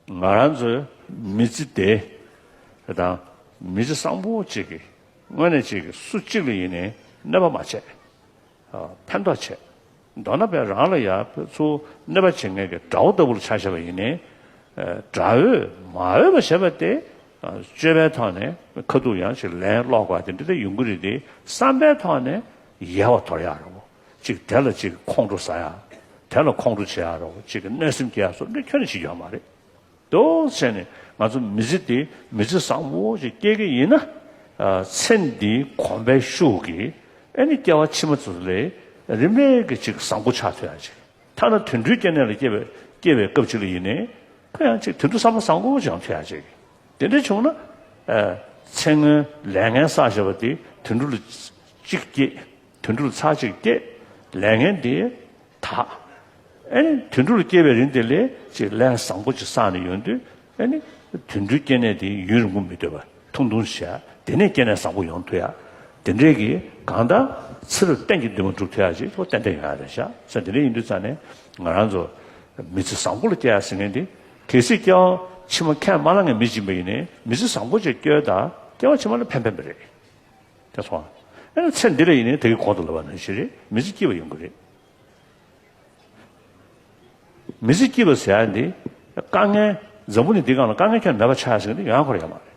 ང་རང་ཚོའི་མི་ཚེ་འདི་དང་མི་ཚེ་བཟང་པོ་གཅིག་གི་སྔོན་ནས་གཅིག་གིས་སུ་གཅིག་ལ་ཡིན་ནས་གནོད་པ་མ་བྱས། ཕན་ཐོགས་བྱས། མདོར་ན་བས་རང་ལ་ཡང་བས་ཚུར་གནོད་པ་བྱེད་མཁན་གྱི་དགྲ་བོ་ལྟ་བུར་ཆགས་བྱས་པ་ཡིན་ནས། དགྲ་བོས་མ་འོས་པ་བྱས་པ་དེ་བཅོས་པའི་ཐོག་ནས་ཁ་ཐུག་ཡང་ཅིག་ལན་སློག་དགོས་པ་དེ་འདི་ལྟ་ཡོང་གི་རེད་དེ་བསམ་པའི་ཐོག་ནས་ཡལ་བ་དོར་ཡག་རེད་བོ། གཅིག་དེ་ལ་གཅིག་ཁོང་ཁྲོ་ཟ་ཡ། དེ་ལ་ཁོང་ཁྲོ་བྱེད་ཡ་རོགས་གཅིག་གི་གནོད་སེམས་སྐྱེ་ཡ་སོགས་འདི་ཁྱོན་ནས་བྱེད་རྒྱུ་ཡ་མ་རེད་དོ། ཚེ་ནི་ང་ཚོ་མི་ཚེ་འདི་མི་ཚེ་བཟང་བོ་ཞིག་སྐྱེལ་གི་ཡིན་ན། ཚེ་འདིའི་གོམ་པའི་ཤུགས་ཀྱིས་ཨེ་ནི་སྐྱེ་བ་ཕྱི་མ་ཚོ་ལས་རིམ་པས་གི་ཅིག་བཟང་པོ་ཆགས་ཐུབ་ཡ་ཅིག་ཐ་ན་དུད་འགྲོའི་སྐྱེ་གནས་ལ་སྐྱེ་བའི་སྐྱེ་བའི་སྐབས་ཅིག་ལ་ཡིན་ནའི་ཁོ་ཡང་ཅིག་དུད་འགྲོ་བསམ་བློ་བཟང་བོ་ཅིག་ཡང་ཐུབ་ཡ་ཅིག་དེ་འདྲ་བྱུང་ན། ཚེ་སྔོན་ལས་ངན་བསགས་བྱས་པ་དེ་དུད་འགྲོ་ལ་ཅིག་སྐྱེས། དུད་འགྲོར་ཚར་གཅིག་སྐྱེ། ལས་ངན་འདི་དག། ཨེ་ནི་དུད་འགྲོར་སྐྱེ་བའི་རིན་དེ་ལས་ཅིག་ལས་བཟང་པོ་ཅིག་བསགས་ནས་ཡོང་དུས་ཨེ་ནི། དུད་འགྲོའི་སྐྱེ་གནས་དེ་ཡུན་རིང་པོ་མི་སྡོད་པར་ཐུང་ཐུང་ཞེ་ཡག་དེ་ནས་སྐྱེ་གནས་བཟང་པོ་ཡོང་ཐུ་ཡག་དེ་འདྲས་ཀྱི་གང་ལྟར་ཚེ་རབས་གཏན་གྱི་འདུན་མ་འགྲུབ་ཐུ་ཡག་ཅིག་ལོ་ཏན་ཏན་ཡོང་ཡག་རེད་ཤག་ས་འདི་འདྲས་ཡིན་དུས་ཙང་ནས་ང་རང་ཚོ་མི་ཚེ་བཟང་པོ་ལ་སྐྱེ་ཡག་ཟེར་མཁན་དེ་གལ་སྲིད་སྐྱེ་བ་ཕྱི་མ་ཁས་མ་བླངས་མཁན་མི་སྦྱིན་པ་ཡིན་ནས་མི་ཚེ་བཟང་པོ་ཅིག་སྐྱེལ་དང་སྐྱེ་བ་ཕྱི་མ་ལ་ཕན་ཕན་པ་རེད། དེ་སོང་ཨ། ཨེ་ན་ཚེ་འདི་རེད་ཡིན་ནའི་དེ་གི་གོང་དུ་ལབ་པ་ན་གཞི་རེད་མི་ཚེ་སྐྱིད་པ་ཡོང་གི་རེད། མི་ཚེ་སྐྱིད་པ་ཟེར་ཡ་འདི་དཀའ་ངལ་འཛམ་བུ་ནི་འདི་གང་ལ་དཀའ་ངལ་ཁྱོད་མེད་པ་ཆགས་ཟིན་གི་འདི་ཡང་འཁོར་ཡ་མ་རེད།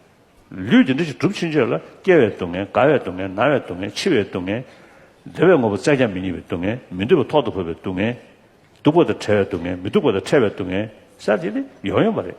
ལུས་འདི་འདྲ་ཞིག་གྲུབ་ཕྱིན་ཆད་ལ་སྐྱེ་བའི་སྡུག་བསྔལ་རྒ་བའི་སྡུག་བསྔལ་ན་བའི་སྡུག་བསྔལ་འཆི་བའི་སྡུག་བསྔལ། བདེ་བའི་ངོ་བོ་བཙལ་ཀྱང་མི་རྙེད་པའི་སྡུག་བསྔལ་མི་འདོད་པ་ཐོག་ཏུ་འཕོས་པའི་སྡུག་བསྔལ། སྡུག་པ་དང་བྲལ་བའི་སྡུག་བསྔལ་མི་སྡུག་པ་དང་ཕྲལ་བའི་སྡུག་བསྔལ། ས་དེ་ནི་ཡོང་ཡོང་པ་རེད།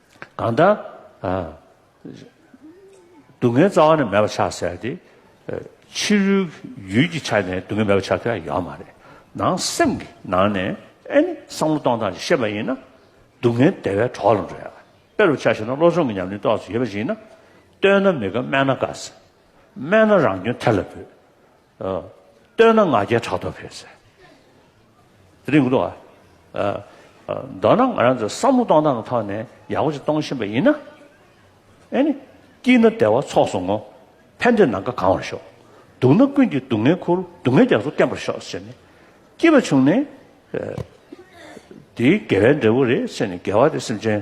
གང་དག། སྡུག་བསྔལ་རྩ་བ་ནས་མེད་པར་ཆགས་ཟེར་ཏེ། ཕྱི་རོལ་གྱི་ཡུལ་གྱི་ཆ་ནས་སྡུག་བསྔལ་མེད་པར་ཆགས་ཐུབ་ཡ་ཡོད་མ་རེད། ནང་སེམས་ཀྱི་ནང་ནས་ཨེ་ནི་བསམ་བློ་གཏོང་སྟངས་ཀྱི་ཤེས་པ་ཡིན་ན། སྡུག་བསྔལ་བདེ་བའི་གྲོགས་ལ་འགྲོ་ཡ། དཔེ་རུ་ཆ་ཞིག་ན་བློ་སྦྱོང་གི་ཉམས་ལེན་རྟོགས་སུ་ཡོད་པ་ཞིག་ན། བསྟོད་ན་མི་དགའ་སྨད་ན་དགའ་ཟེར། སྨད་ན་རང་སྐྱོན་ཐེར་ལ་འབུད། བསྟོད་ན་ང་རྒྱལ་ཕྲག་དོག་འཕེལ། ཟེར་དེ་རིང་གོ་འདུག་ཨ། མདོར་ན་ང་རང་ཚོ་བསམ་བློ་གཏོང་སྟངས་ཀྱི་ཐོག་ནས་ཡག་པོ་ཞིག་གཏོང་བཞིན་པ་ཡིན་ན། ཨེ་ནི། སྐྱིད་ན་བདེ་བ་ཚོགས་སུ་བསྔོ། ཕན་འདོད་ནམ་མཁའ་གང་བར་ཤོག། སྡུག་ན་ཀུན་གྱིས་སྡུག་བསྔལ་འཁུར། སྡུག་བསྔལ་རྒྱ་མཚོ་བརྟན་པར་ཤོག་ཟེར་ནས། སྐྱིད་པ་བྱུང་ནས། དེའི་དགེ་བའི་འབྲས་བུ་རེད་ཟེར་ནས་དགེ་བ་དེ་སེམས་ཅན།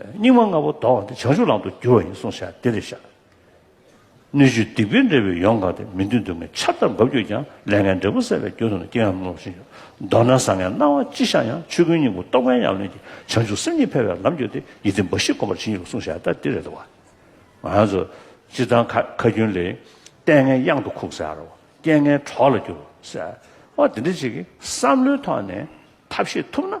སྙིགས་མ་ལྔ་པོ་ལྡོག་བ་འདི་བྱང་ཆུབ་ལམ་དུ་འགྱུར་བ་ཡིན་གསུངས་ཤ་དེ་རེ་བཞག། སྣོད་བཅུད་སྡིག་པའི་འབྲས་བུས་ཡོངས་གང་སྟེ་མི་མཐུན་སྡུག་བསྔལ་ཆར་ལྟར་འབབ་གྱུར་ཀྱང་ལས་ངན་འབྲས་བུ་བསལ་བའི་རྒྱུ་དུ་ན་དཀྱིལ་ཡངས་སྣང་བ་ཤིན་ཏུ་མདོར་ན་བཟང་ངན་སྣང་བ་ཅི་ཤར་ཡང་ཆོས་ཀུན་སྙིང་པོ་རྟོགས་པའི་ཉམས་ལེན་གྱིས་བྱང་ཆུབ་སེམས་གཉིས་འཕེལ་བའི་ལམ་བརྒྱུད་དེ་ཡིད་བདེ་འབའ་ཞིག་སྒོམ་པར་བྱིན་ཡོད་གསུངས་ཤ་དེ་རེད་དོ། ང་ཚོ་སྤྱིར་བཏང་ཁ་རྒྱུན་ལས། ལྟས་ངན་གཡང་དུ་ཁུག་ཟེར་རོ། རྐྱེན་ངན་གྲོགས་ལ་བསྒྱུར་རོ་ཟེར། འོ་དེ་འདྲ་ཅིག་གིས་བསམ་བློའི་ཐོག་ནས་ཐབས་ཤེས་ཐུབ་ན།